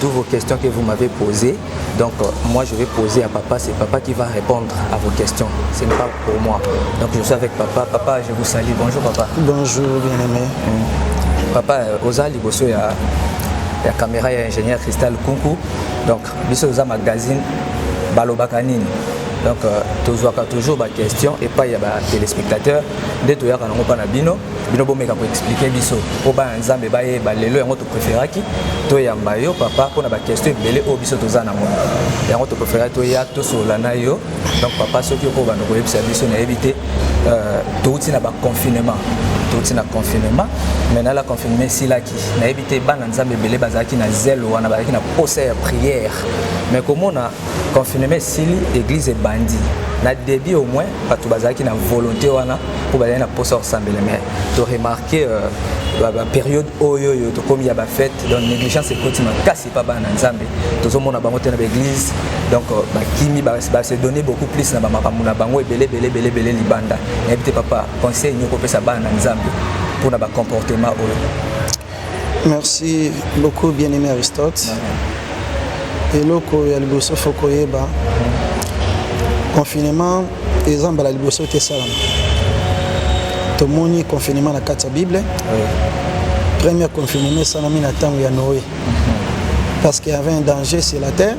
Tous vos questions que vous m'avez posées, donc euh, moi je vais poser à papa, c'est papa qui va répondre à vos questions, ce n'est pas pour moi. Donc je suis avec papa, papa je vous salue, bonjour papa. Bonjour bien aimé. Mmh. Papa, euh, oza liboso ya, ya caméra ya ingénieur Cristal Kunku, donc biso oza magazine balobaka nini donc euh, tozwaka toujours baquestion epai ya batelespectateur nde toyaka nango mpa na bino bino bomeka koexplike biso mpo bana nzambe bayeba lelo yango topreferaki toyamba yo papa mpo na bakestio ebele oyo biso toza na yango yango topreferaki toya tosolola na yo donc papa soki okoki obanda koyebisa biso nayebi te euh, touti na baconfinement touti na confinement mais na la confinement esilaki nayebi te bana nzambe ebele bazalaki na zelo wana bazalaki na posa ya prière mais komona confinement esili église ebandi na début au moins bato bazalaki na volonté wana mpo bazali na mposa ya kosambela mais toremarke euh, baperiode oyo oyo tokomi ya bafete donc négligence ekoti makasi epa bana na nzambe tozomona bango te na baeglise donc euh, bakimi base donne beaucoup plus na bamakambo na bango ebele ebele ebele ebele libanda nayebi te papa conseil nini okopesa bana na nzambe mpo na bacomportement oyo Merci beaucoup bien-aimé Aristote. eloko ya liboso fo koyeba confinement eza mbala liboso te esalama tomoni confinement na kati ya bible première confinement esalami na ntango ya noé parce qu'il y avait un danger sur la terre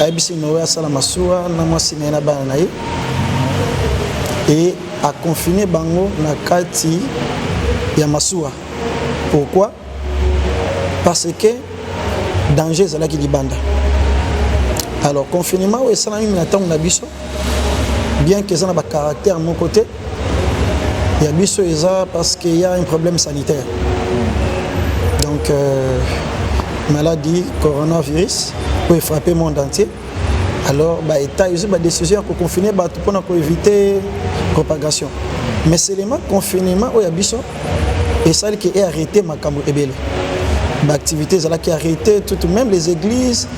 ayebisi noe asala masuwa na mwasi na ye na bana na ye e akonfine bango na kati ya masuwa pourquoi parce que danger ezalaki libanda alors confinement oyo esalami na ntango na biso bien que eza na bacaractère moko te ya biso eza parce qu'il y a un problème sanitaire donc euh, maladie coronavirus oyo frappe monde entier alors baétat ezwi badécision ya koconfine bato mpona koéviter propagation mais selema confinement oyo ya biso esali ke earrete makambo ebele baactivité ezalaki arrete tout même les églises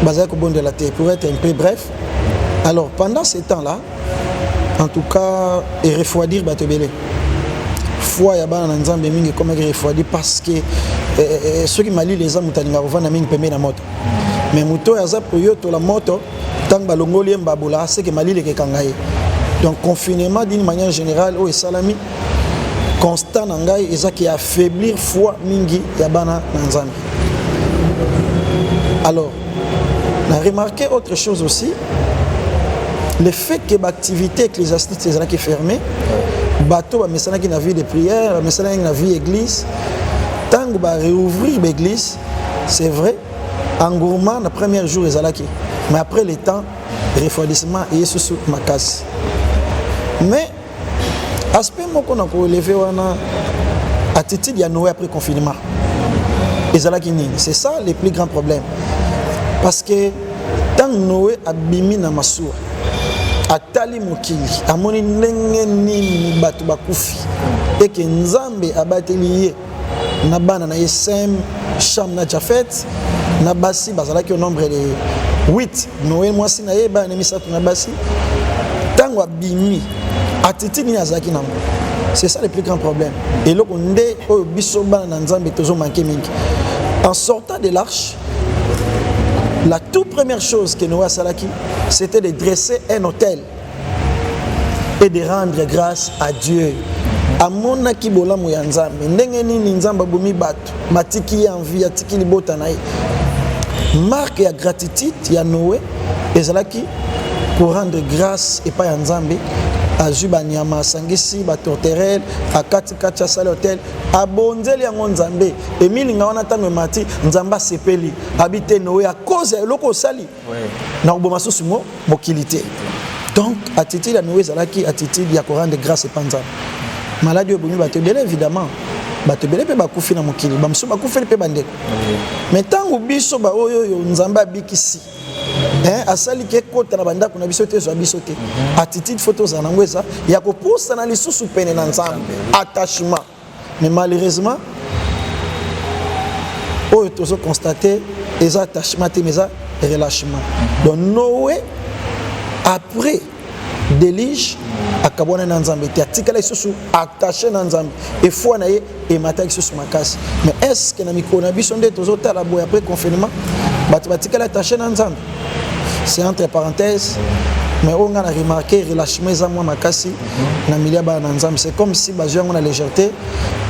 bazali kobondela te pour être un peu bref alors pendant ce temps là en tout cas et refroidir bato ebele foi ya bana na nzambe mingi ekomaki refroidi parce que eh, eh, eh, soki malili eza moto alingaka kovanda mingi pembeni na moto mais moto oyo aza koyotola moto ntango balongoli ye mbabula aseke malili ekekanga ye donc confinement d'une manière générale oyo esalami constat na ngai eza ke affaiblir foi mingi ya bana na nzambe alors na remarqué autre chose aussi le fait que baactivité ecclésiastique ezalaki fermé bato bamesanaki na vie de prière bamesanaki na vie église ntango bareouvrir baeglise c'est vrai engouement na premier jour ezalaki mais après le temps refroidissement eye susu makasi mais aspect moko na koeleve wana attitude ya noe après confinement ezalaki nini c'est ça le plus grand problème parce que ntango noe abimi na masuwa atali mokili amoni ndenge nini bato bakufi eke nzambe abateli ye na bana na ye sem sham na jafet na basi bazalaki au nombre de 8 noe mwasi na ye bana na misato na basi ntango abimi atiti nini azalaki nango c'est ça le plus grand problème eloko nde oyo biso bana na nzambe tozomanke mingi en sortant de l'arche la toute première chose que noe asalaki c'était de dresser un hôtel et de rendre grâce à Dieu. amonaki bolamu ya nzambe ndenge nini nzambe abomi bato matiki ye envi atiki libota na ye marke ya gratitude ya noe ezalaki korendre grâce epai ya nzambe azwi banyama asangisi batorterele akatikati asali hotel abonzeli yango nzambe emilinga wana ntango emati nzambe asepeli abi te noe akoze ya eloko osali na koboma susu mo mokili te donc attitude ya miwo ezalaki attitude ya korendre grâce epa nzambe maladi oyo ebomi bato ebele évidemment bato ebele mpe bakufi na mokili bamosusu bakufeli mpe bandeko mai ntango biso baoyo oyo nzambe abikisi asali ke ekota na bandako na biso te ezwa biso te mhm. attitude fo tozala yango eza ya kopusana lisusu pene na nzambe attachement mais malheureusement oyo tozo constate eza attachement te mais eza relâchement donc noe après delige akabwana na nzambe te atikala lisusu attaché na nzambe efoi na ye emataki lisusu makasi mais est ce que na mikolo na biso nde tozotala boye après confinement bato batikali attaché na nzambe c'est entre parenthèses mais oyo ngai na remarke relâchement eza mwa makasi na milieu ya bana na nzambe c'est comme si bazwi yango na légèreté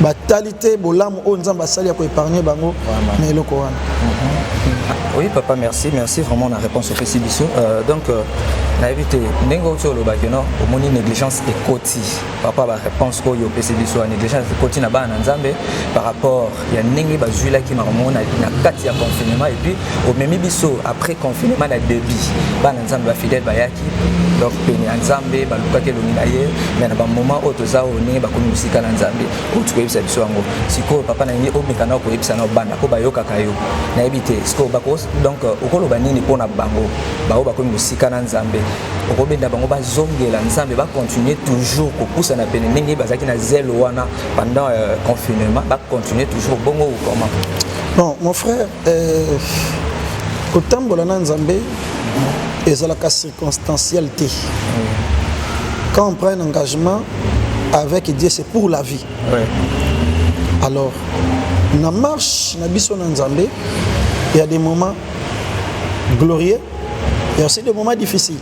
batali te bolamu oyo nzambe asali ya koépargne bango na eloko wana mhm. oui papa merci merci vraiment na réponse opesi biso euh, donc euh, nayebi te ndenge oti olobaki no omoni négligence ekoti par rapport ya baréponse oyo opesi biso ya négligence ekoti na bana na nzambe par rapport ya ndenge bazwilaki makambo na kati ya confinement epuis omemi biso après confinement na debit bana nzambe bafidèle bayaki donc pene ya nzambe balukaki elongi na ye me na bamoment oyo toza oyo ndenge bakomi mosika na nzambe oyo tikoyebisa biso yango sikoyo papa na nini omeka na okoyebisa na obanda mpo bayokaka yo nayebi te sikoyo bako donc okoloba nini mpo na bango bango bakomi mosika na nzambe okobenda bango bazongela nzambe bakontinue toujours kopusana pene ndenge bazalaki na zelo wana Pendant euh, confinement, va continuer toujours bongo ou comment Non, mon frère, euh, kotambola na Nzambe ezalaka circonstanciel te. Quand on prend un engagement avec Dieu, c'est pour la vie. Oui. Alors, na marche na biso na Nzambe, il y a des moments glorieux, il y a aussi des moments difficiles.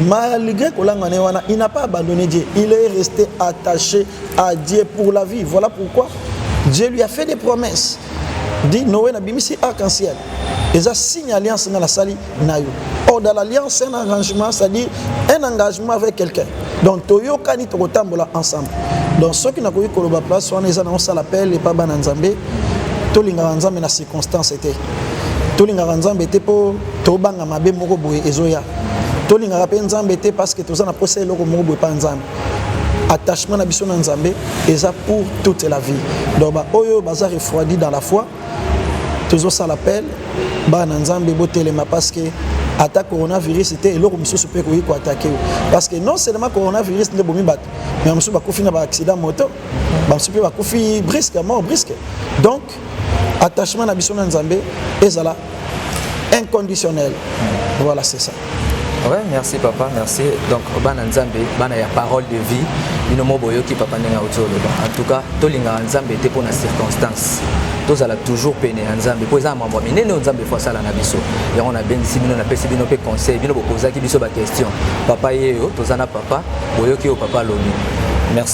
Malgré kolanga ne wana, il n'a pas abandonné Dieu. Il est resté attaché à Dieu pour la vie. Voilà pourquoi Dieu lui a fait des promesses. Dit Noé na bimisi arc-en-ciel. Et ça signe alliance dans la sali nayo. Or dans l'alliance c'est un arrangement, c'est-à-dire un engagement avec quelqu'un. Donc toyo kani toko tambola ensemble. Donc ceux qui n'a koyi koloba place wana eza na sala appel et pas bana nzambe. Tolinga nzambe na circonstance était. Tolinga nzambe était pour tobanga mabe moko boye ezoya tolingaka mpe nzambe te parce que toza na mposa eloko moko boye mpa nzambe attachement na biso na nzambe eza pour toute la vie donc baoyo baza refroidi dans la foi tozosala appel bana nzambe botelema parce que ata coronavirus te eloko mosusu mpe ekoki koatake yo parce que non seulement coronavirus nde bomi bato mais mosusu bakufi na baaccident moto bamosusu mpe bakufi brisque mort brisque donc attachement na biso na nzambe ezala inconditionnel voilà c'est ça Ouais, merci papa, merci. Donc, bana nzambe, bana ya parole de vie, bino mo boyoki papa ndenge auti oloba. En tout cas, tolinga nzambe te pona circonstance. tozala toujours pene ya nzambe mpo eza na mambo minene oyo nzambe fo asala na biso yango nabengisi bino napesi bino mpe conseil bino bopozaki biso baquestion papa yeyo toza na papa boyoki oyo papa alobi merci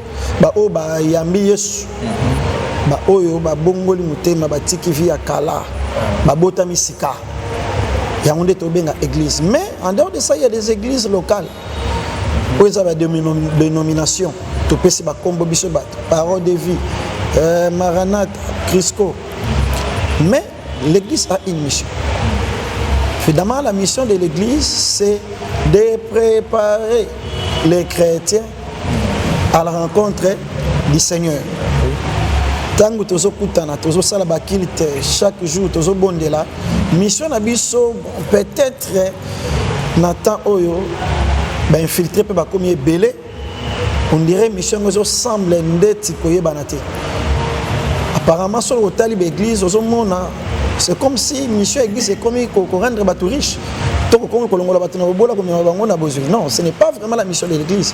baoyo bayambi yesu baoyo babongoli motema batiki vi ya kala babotami sika yango nde tobenga église mais en dehors de ça il y a des églises locales oyo eza badénomination topesi bakombo biso bato parole de vie euh, maranata crisco mais L'église a une mission. Finalement, la mission de l'église, c'est de préparer les chrétiens à la rencontre du Seigneur. ntango tozokutana tozosala bakilte chaque jour tozobondela mission na biso peut-être na temps oyo bainfiltre mpe bakomi ebele on dirait mission yango ezosemble ndeti koyebana te apparemment soki otali baeglise ozomona c'est comme si mission ya église ekomi korendre bato riche to kokomi kolongola bato na bobola komema bango na bozwi non ce n'est pas vraiment la mission de l'église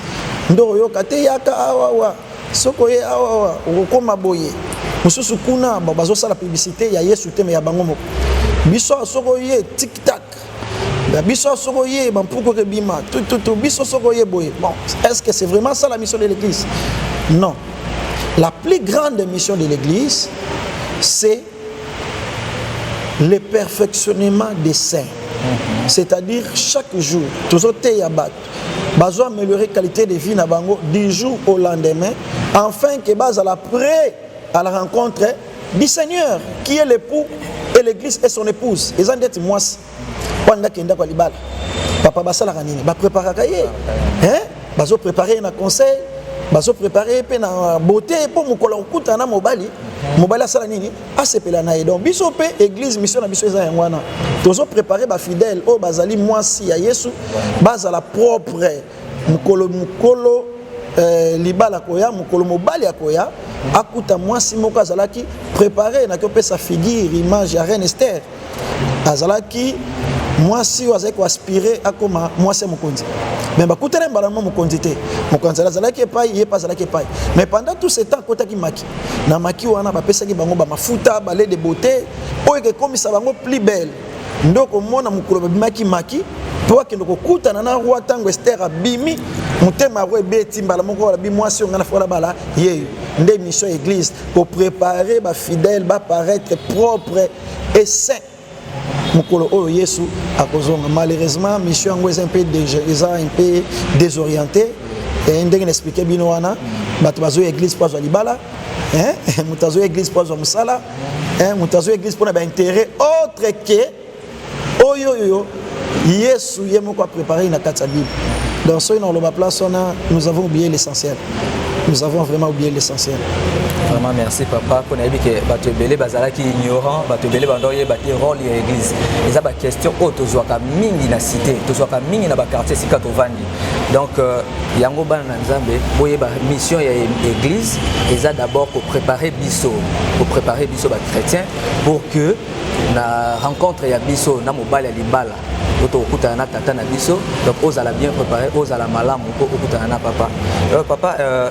nde oyoka te yaka awawa soki oye awawa okokoma boye mosusu kuna bazosala publicité ya yesu te me ya bango moko biso soki oye tiktak na biso soki oye bampuku eke bima tututu biso soki oye boye bon est ce que c'est vraiment ça la mission de l'église non la plus grande mission de l'église c'est le perfectionnement des saints mhm. c'est-à-dire chaque jour tozoteya bato bazo améliorer qualité de vie na bango du jour au lendemain afin que bazala près à la rencontre du Seigneur qui est l'époux et l'église et son épouse eza ndeti mwasi wana ndaki ndako ya libala papa basalaka nini bapreparaka ye hein bazoprepare ye na conseil bazoprepare ye mpe na beauté mpo mokolo kokutana na mobali mobali asala nini asepela na ye donc biso mpe église mission na biso eza yango wana tozoprepare bafidèle oyo bazali mwasi ya yesu bazala propre mokolo mokolo eh, libala koya mokolo mobali akoya akuta mwasi moko azalaki prepare na kopesa figure image ya reine ester azalaki mwasi oyo azalaki koaspire akoma mwasi ya mokonzi me bakutana mbala mwa mokonzi te mokonzi azalaki epai ye mpe azalaki epai mais pendant tout ce temps akotaki maki na maki wana bapesaki bango bamafuta balede bote oyo ekekomisa bango plus belle nde okomona mokolo babimaki maki mpo akende kokutana na roi ntango ester abimi motema yango ebeti mbala moko olobi mwasi oyo ngai nafola bala yeyo nde mission ya église koprépare bafidèle baparaître propre et saint mokolo oyo yesu akozonga malheureusement mission yango eza mpe eza mpe désorienté ndenge na explike bino wana bato bazoya église mpo azwa libala hein moto azoya église mpo azwa mosala hein moto azoya église mpo na baintérêt autre ke oyo oyo yesu ye moko aprépare na kati ya bible donc soki nakoloba place wana nous avons oublié l'essentiel nous avons vraiment oublié l'essentiel vraiment merci papa mpo nayebi ke bato ebele bazalaki ignorant bato ebele banda oyeba te role ya église eza baquestion oyo tozwaka mingi na cité tozwaka mingi na baquartier esika tovandi Donc, euh, yango bana na nzambe boyeba mission ya église eza d'abord kopréparer biso kopréparer biso bachrétien pour que na rencontre ya biso na mobali ya libala oyo tokokutana na tata na biso donc ozala bien préparé ozala malamu mpo okutana na papa euh, papa euh,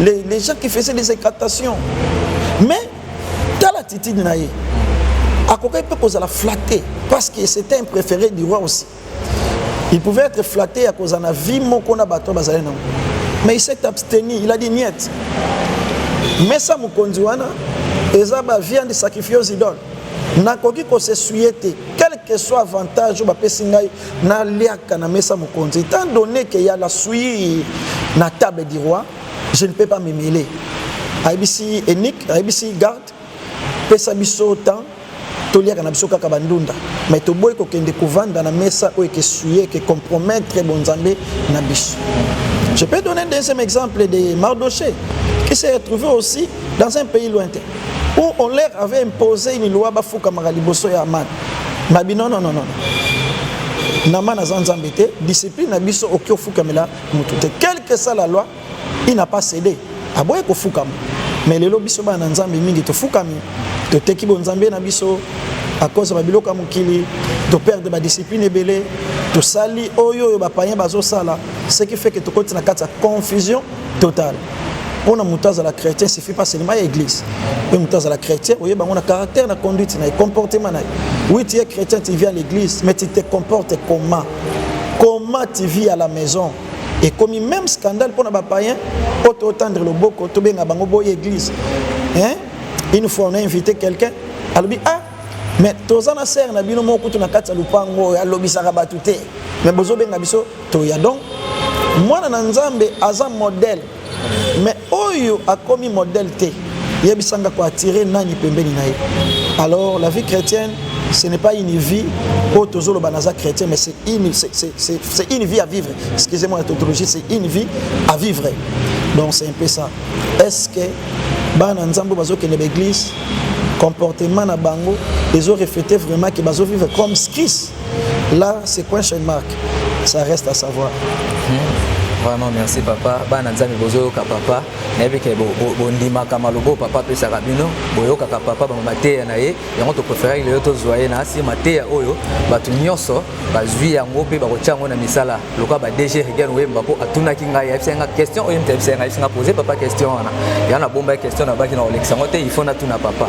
les, les gens qui faisaient des incantations mais tala attitude na ye akokaki mpe kozala flatte parce que c'était un préféré du roi aussi il pouvait être flatté ya kozala na vie moko na bato bazali nango mais il s'est abstenu il a dit niette mesa mokonzi wana eza baviande sacrifie aux idoles nakoki kosesuye te quelque soit avantage oyo bapesi ngai Na liaka na mesa mokonzi. Étant donné que ya la suie na table du roi, je ne peux pas me mêler. Ayebisi Enick, ayebisi garde, pesa biso temps toliaka na biso kaka bandunda mais toboyi kokende kovanda na mesa oyo ekesuye eke compromettre bonzambe na biso je peux donner un deuxième exemple de mardoché qui s'est retrouvé aussi dans un pays lointain où on leur avait imposé une loi bafukamaka liboso ya amana babi non non non non na mana aza nzambe te discipline na biso oki ofukamela motu te quelque soit la loi il n'a pas cédé aboye kofukama mais lelo biso bana na nzambe mingi tofukami toteki bonzambe na biso à cause ba biloko ya mokili toperde badiscipline ebele tosali oyo oyo bapayen bazosala ce qui fait que tokoti na kati ya confusion total mpo na moto azala chrétien suffit pas seulement ya église mpe moto azala chrétien oyeba yango na caractère na conduite na ye comportement na ye oui tu es chrétien tu vis à l'église mais tu te comportes comment comment tu vis à la maison ekomi même scandale mpo na bapayen mpo totandre loboko tobenga bango boye église hein? une fois on a invité quelqu'un alobi ah mais toza na sere na bino moko kutu na kati ya lopango oyo alobisaka bato te mais bozobenga biso toya donc mwana na nzambe aza modèle mais oyo akomi modèle te yebisa nga koattire nani pembeni na ye alors la vie chrétienne ce n'est pas une vie oyo tozoloba naza chrétien mais c'est une, c'est une vie à vivre excusez-moi la tautologie c'est une vie à vivre donc c'est un peu ça est ce que bana nzambe bazokende baeglise comportement na bango ezo reflete vraiment ke bazo vivre comme christ Là, c'est question mark Ça reste à savoir. Hmm. Vraiment, merci papa. Bana nzambe bozoyoka papa. Nayebi ke bondimaka malobo papa apesaka bino. Boyokaka papa bango mateya na ye. Yango topréféraki lelo tozwa ye na asi mateya oyo bato nyonso bazwi yango mpe bakotya yango na misala. lokola ba DG Regan Wemba mpo atunaki ngai ayebisaki ngai question oyo mpe ayebisaki ngai ayebisaki ngai poser papa question wana ya na bomba question na baki na kolekisa yango te il faut natuna papa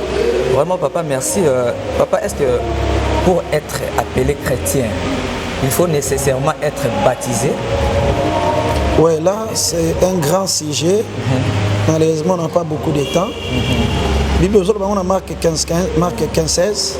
vraiment papa merci euh, papa est-ce que pour être appelé chrétien il faut nécessairement être baptisé Ouais, là, c'est un grand sujet. Mm-hmm. Malheureusement, on n'a pas beaucoup de temps. Mm-hmm. Bible, on a marqué 15, marqué 15, 16.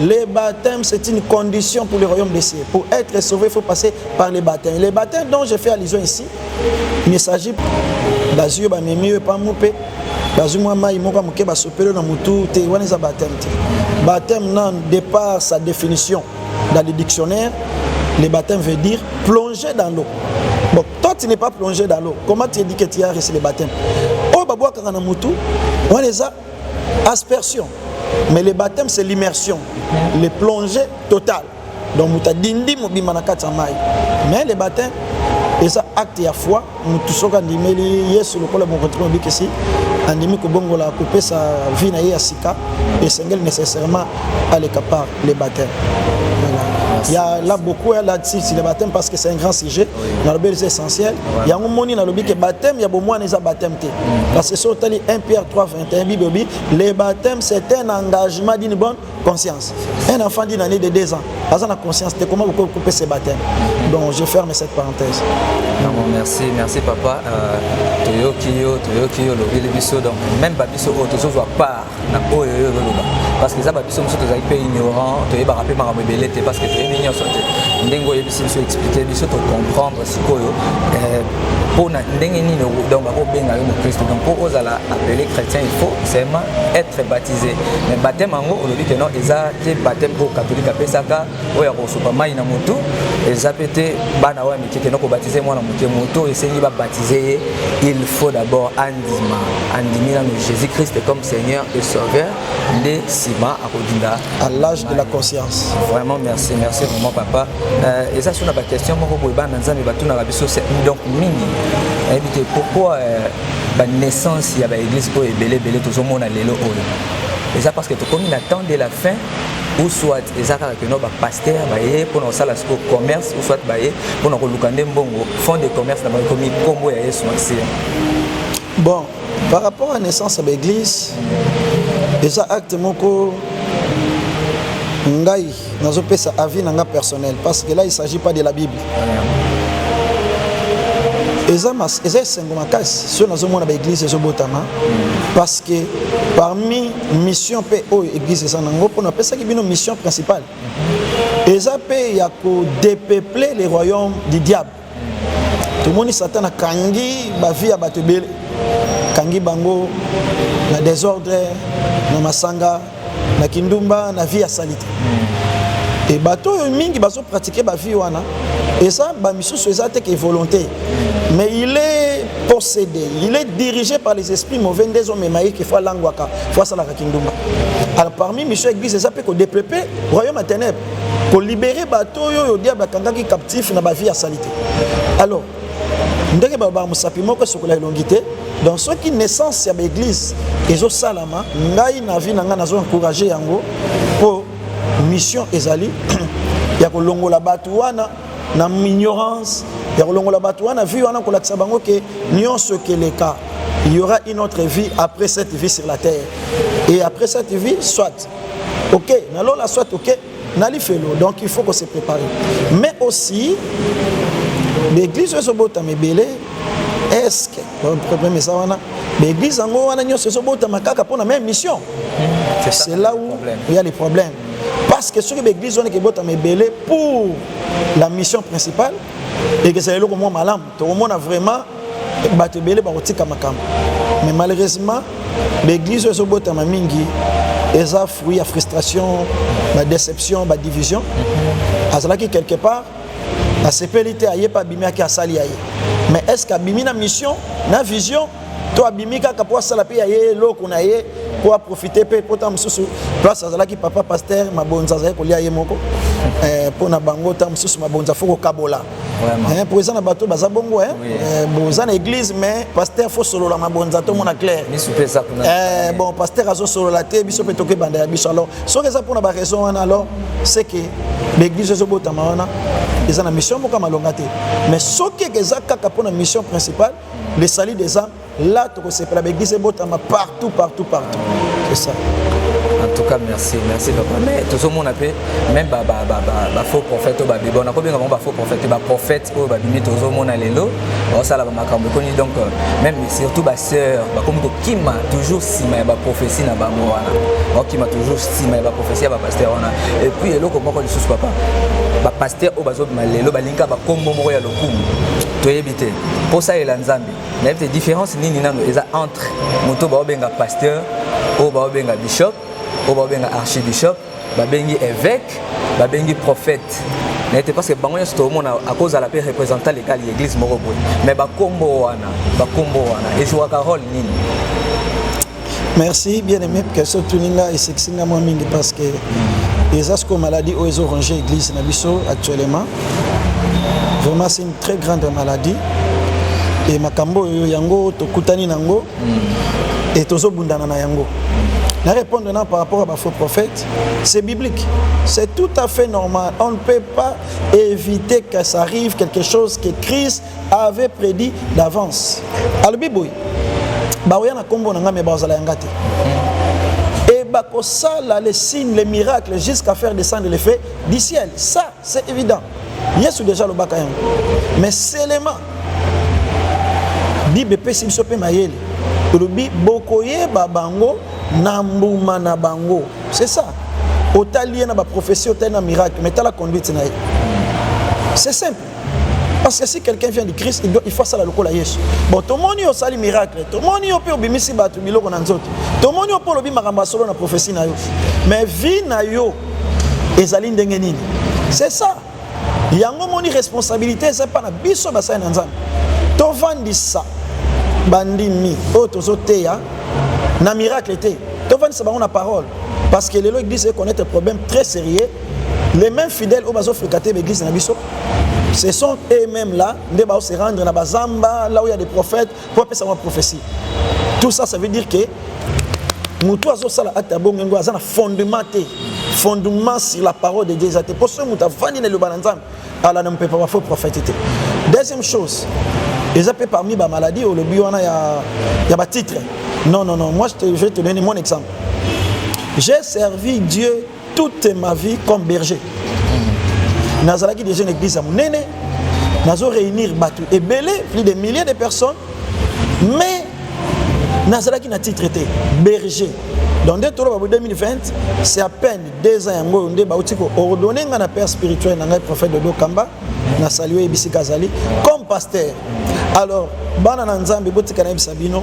Le baptême, c'est une condition pour le royaume des cieux. Pour être sauvé, il faut passer par le baptême. Le baptême dont je fais allusion ici, il ne s'agit pas d'azur, pas mieux, pas moupé, bazwi mwa mai moko moke basopeli na motu te wana eza bateme te bateme na départ sa définition dans le dictionnaire le baptême veut dire plonger dans l'eau bon toi tu n'es pas plongé dans l'eau comment tu édike tu as reçu le baptême oyo babwakaka na motu wana eza aspersion mais le baptême c'est l'immersion le plongé total donc moto adindi mobimba na kati ya mai mais le baptême eza acte ya foi motu soki andimeli yesu lokola mokonzi mpe mobikisi andimi kobongola kopesa vie na ye ya sika esengeli nécessairement aleka par le baptême ya la beaucoup ya la tisi le baptême parce que c'est un grand sujet nalobi eza essentiel yango moni nalobi ke baptême ya bomwana eza baptême te parce que soki otali 1 pierre 3 21 bible elobi le baptême c'est un engagement d'une bonne conscience un enfant d'une année de 2 ans aza na conscience te comment bokoki kopesa ye baptême donc je ferme cette parenthèse non, merci merci papa euh, toyoki yo toyoki yo olobeli biso donc même babiso oyo tozozwa part na oyo yo ozoloba parce que eza babiso mosusu tozali mpe ignorant toyebaka mpe makambo ebele te parce que toyebi nyonso te ndenge oyebisi biso explike biso tocomprendre sikoyo mpo eh, na ndenge nini donc bakobenga yo mokristo donc mpo ozala appelé chrétien il faut seulement être baptisé mais bateme yango olobi ke non eza te bateme oyo katholike apesaka oyo ya kosopa mai na motu eza mpe te bana oyo ya mike keno kobatize mwana moke moto esengi babatize ye il faut d'abord nsima andimi nano jésus christ comme seigneur et sauveur nde nsima akodinda à l'âge de la conscience vraiment merci merci vraiment papa euh, eza so na baquestion moko boye bana na nzambe batunaka biso donc mingi nayebi te pourquoi euh, banaissance ya baeglise oyo ebele ebele tozomona lelo oyo eza parce que tokomi na temps de la fin ou soit eza kaka keno bapaster baye mpona kosala siko commerce ou soit baye mpona koluka nde mbongo fond de commerce na bango ekomi nkombo ya yesu masiya bon par rapport à naissance ya baeglise eza acte moko ngai nazopesa avis na nga personnel parce que là il s'agit pas de la bible eza esengo makasi soki nazomona baeglise ezobotama parce que parmi mission mpe oyo église eza nango mpo napesaki bino mission principale eza mpe ya kodepeupler le royaume du diable tomoni satan akangi bavi ya bato ebele akangi bango na desordre na masanga na kindumba na vie ya salite e bato oyo mingi bazopratike bavie wana eza bamisusu eza te ke volonté mais il est posede il est dirigé par les esprits mauvais nde ezomema ye ke fo alangwaka fo asalaka kindumba alors parmi mission ya église eza mpe kodepepe royaume ya ténèbre kolibere bato oyo oyo diable akangaki captif na bavie ya salite alors ndenge balobaka mosapi moko esokola elongi te donc soki naissance ya baeglise ezosalama ngai na vie na ngai nazo encourage yango mpo mission ezali ya kolongola bato wana na ignorance ya kolongola bato wana vie wana kolakisa bango ke nyonso ekeleka il y aura une autre vie après cette vie sur la terre et après cette vie soit ok na lola soit ok na lifelo donc il faut ko se préparer mais aussi baeglise oyo ezobotama ebele eske problème eza wana baeglise yango wana nyonso ezobotama kaka mpona même mission c'est là où il y a les problèmes parce que soki baeglise wana ekebotama ebele pour la mission principale ekezala eloko mwa malamu tokomona vraiment bato ebele bakotika makambo mais malheureusement baeglise oyo ezobotama mingi eza fruit ya frustration badéception badivision azalaki quelque part asepeli te aye mpe abimi ake asali ya ye mais est ce que abimi na mission na vision to abimi kaka mpo asala mpe ya ye eloko na ye mpo aprofite mpe mpo ntango mosusu place azalaki papa paster mabonza azali kolia ye moko eh, mpo na bango ntango mosusu mabonza fo kokabola eh, mpo eza na bato baza bongo eh. boza na église mais paster fo solola mabonza tomona claire bon paster azosolola te biso mpe tokebanda ya biso alors soki eza mpo na baraison wana alors c'est que l'église ezobotama wana eza na mission moko ya malonga te mais soki eza kaka mpo na mission principale le salut des âmes là tokosepela baeglise ebotama partout partout partout c'est ça en tout cas merci merci papa mais tozomona mpe même bafaux prophète oyo babibi wana kobenga bango bafaux prophète baprophète oyo babimi tozomona lelo baosala bamakambo ekoni donc euh, même surtout basœur bakomi kokima toujours nsima ya baprophétie na bango wana bakokima toujours nsima ya baprophétie ya bapasteur wana et puis eloko moko lisusu papa bapasteur oyo bazobima lelo balingaka bakombo moko ya lokumu toyebi te kosalela nzambe nayebi te différence nini nano eza entre moto baobenga pasteur oyo baobenga bishop oyo baobenga archibishop babengi évêque babengi prophète naye te parce que bango nyonso tokomona akozala mpe représentant legal ya église moko boye mais bakombo wana bakombo wana ezuwaka role nini merci bien aimé question otuni nga esekisi nga mwa mingi parce que eza sikoyo maladie oyo ezo range église na biso actuellement vraiment c'est une très grande maladie e makambo oyo yango tokutani na yango e tozobundana na yango na répondre na par rapport à bafaux prophète c'est biblique c'est tout à fait normal on ne peut pas éviter que ça arrive quelque chose que christ avait prédit d'avance alobi boye baoya na nkombo na ngai me bazala yanga te et bakosala les signes les miracles jusqu'à faire descendre les faits du ciel ça c'est évident yesu déjà alobaka yango mais selema bible epesi biso mpe mayele tolobi bokoyeba bango na mbuma na bango c'est ça otali ye na baprofesi otali na miracle mais tala conduite na ye c'est simple Parce que si quelqu'un vient du Christ, il, doit, il faut asala lokola Yesu. Bon, tomoni yo osali miracle, tomoni yo mpe obimisi bato biloko na nzoto, tomoni yo mpe olobi makambo ya solo na prophesie na yo, mais vie na yo ezali ndenge nini? C'est ça. Yango moni responsabilité eza pa na biso basali na Nzambe. Tovandisa bandimi oyo tozoteya na miracle te, tovandisa bango na parole parce que lelo église ekonnaître problème très sérieux les mêmes fidèles oyo bazo fréquenter l'église na biso ce sont eux-mêmes là nde bao se rendre na bazamba là où il y a des prophètes pour apesa mwa prophétie tout ça ça veut dire que moto azosala acte ya bongo yango aza na fondement te fondement sur la parole de dieu eza te mpo soki moto avandi na liloba na nzambe ala na mopepa bafaux prophète te deuxième chose eza mpe parmi bamaladi olobi wana ya, ya batitre non non non moi je te, je te donne mon exemple j'ai servi dieu toute ma vie comme berger nazalaki déjà na église ya monene nazo réunir bato ebele plus de milliers de personnes mais nazalaki na titre te berger donc nde toloba bo 2020 c'est à peine deux ans yango oyo nde bauti koordonne ngai na père spirituel na ngai prophète dodo kamba na sali oyo ebisika azali comme pasteur alors bana na nzambe botika nayebisa bino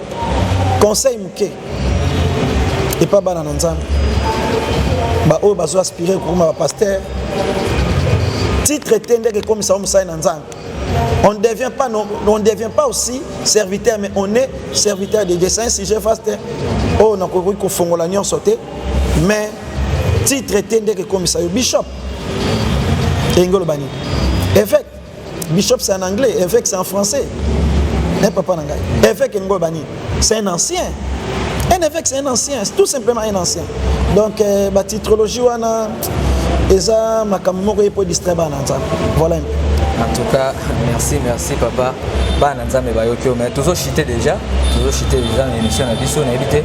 conseil moke epa bana na nzambe baoyo bazo aspire kokoma bapaster titre te ndenge ekomisaka mosali na nzambe on ne devient pas non, on ne devient pas aussi serviteur mais on est serviteur de Dieu c'est un sujet vaste oyo oh, nakoki kofongola nyonso te mais titre te ndenge ekomisa yo bishop elingi oloba nini évêque Bishop c'est en anglais, évêque c'est en français. Eh papa na ngai, évêque elingo bani, c'est un ancien. Un évêque c'est un ancien, tout simplement un ancien. Donc euh, ba titrologie wana eza makambo moko ye po distraire bana nzambe. Voilà un peu. En tout cas, merci, merci papa. Bana nzambe bayoki yo mais tozo chite déjà, tozo chite déjà na émission na biso na yebite.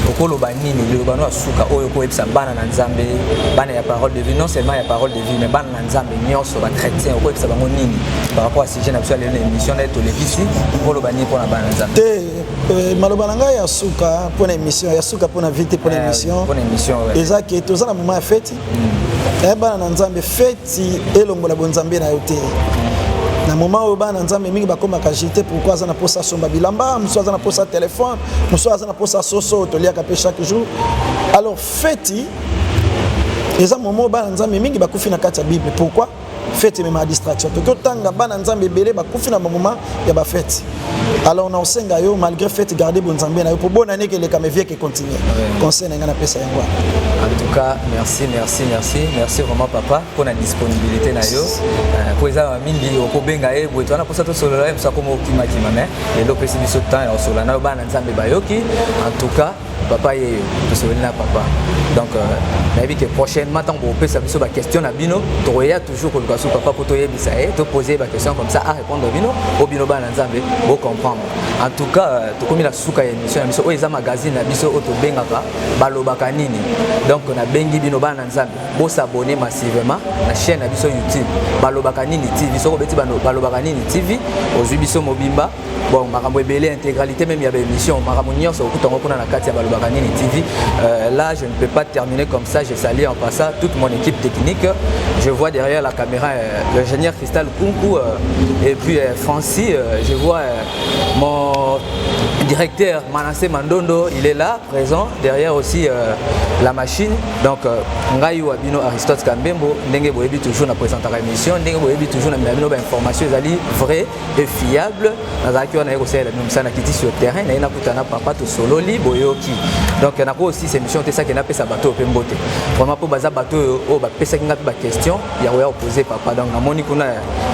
Okoloba nini, loba no asuka oyo ko yebisa bana na nzambe, bana ya parole de vie, non seulement ya parole de vie mais bana na nzambe nyonso ba chrétien okoyebisa bango nini par rapport à sujet na biso ya lelo na émission naye tolekisi oloba nini mpona bana nzambe te euh, maloba na ngai ya suka mpona émission ya suka mpona vie te mpona eh, émission mpona émission eza ke toza na moment ya feti hmm. eh, bana na nzambe feti elongola bonzambe na yo te hmm. na moment oyo bana nzambe mingi bakomaka jete pourkui aza na mposa asomba bilamba mosusu aza na mposa telefone mosusu aza na mposa soso toliaka mpe chaque jour alors Feti eza moment oyo bana nzambe mingi bakufi na kati ya bible pourquoi fete ememaka distraction toki otanga bana nzambe ebele bakufi na bamoma ya bafete alors na osenga yo malgré fete garde bonzambe na yo mpo bona neke elekama evieke econtinue conseil na ngai napesa yango en tout cas merci merci merci merci vraiment papa mpo na disponibilité na yo mpo euh, eza na mingi okobenga ye boye towana mposa tosolola ye mosa koma okimakima mais lelo opesi biso temps ya kosolola na yo bana nzambe bayoki en tout cas papa yeyo tosololi na papa donc euh, nayebi ke prochainement ntango bokopesa biso baquestion na bino tokoya toujours koluka su papa mpo toyebisa ye topose ye baquestion comme ça arépondre ah, bino o bino bana nzambe bocomprendre en tout cas euh, tokomi na suka ya émission na biso oyo eza magazine na biso oyo tobengaka balobaka nini donc nabengi bino bana nzambe bosabone massivement na chaîne na biso youtube balobaka nini tv soki obeti balobaka nini tv ozwi biso mobimba bon makambo ebele intégralité même ya baémission makambo nyonso okuta yango kuna na kati ya balobaka nini tv euh, là je ne peux pas terminer comme ça je sali en passant toute mon équipe technique je vois derrière la caméra euh, l'ingénieur cristal kunku euh, et puis euh, francis euh, je vois euh, mon directeur Manassé Mandondo, il est là, présent. Derrière aussi euh, la machine. Donc, euh, Ngaï ou Abino Aristote Kambembo, Ndenge Boyebi toujours na présenter l'émission, Ndenge Boyebi toujours na Mabino, information, ils allaient vrai. et fiable nazalaki wana ye kosalela bino mosala nakiti sur terrain naye nakuta na papa tosololi boyoki donc nako aussi émission te saki napesa bato oyo mpe mbote vraiment mpo baza bato oyo oyo bapesaki ngai mpe baquestion ya koya kopose papa donc namoni kuna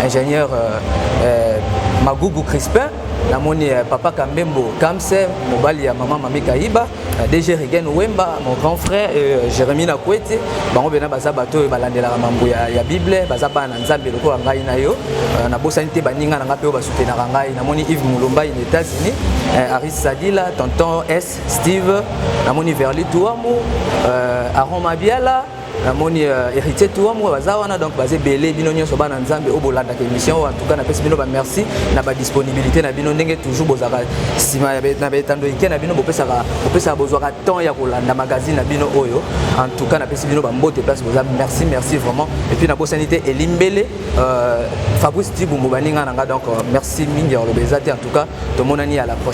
ingénieur euh, euh, magugu crispin namoni euh, papa kambembo kamse mobali ya mama mami kayiba Euh, DG Regen Wemba, mon grand frère, euh, Jérémy Nakwete, bango bena baza bato oyo balandelaka mambo ya, ya Bible, baza bana na Nzambe lokola ngai na yo. Euh, nabosani te baninga na ngai mpe oyo basutenaka ngai. Namoni Yves Mulumba in États-Unis, euh, Aris Sadila, Tonton S, Steve, namoni Verli Tuamu, euh, Aaron Mabiala, namoni uh, héritier tour moko baza wana donc baza ebele bino nyonso bana nzambe oyo bolandaka émission oyo antuka napesi bino bamerci na badisponibilité na bino ndenge toujours bozalaka nsima na baetando ike na bino bopesaka bopesaka bozwaka temps ya kolanda magazine na bino oyo antuka napesi bino bambote place boza merci merci vraiment epuis nabosani te elimbele uh, fabrice tibumbu baninga na nga donc uh, merci mingi ya koloba eza te antuka tomonani ya la prochaine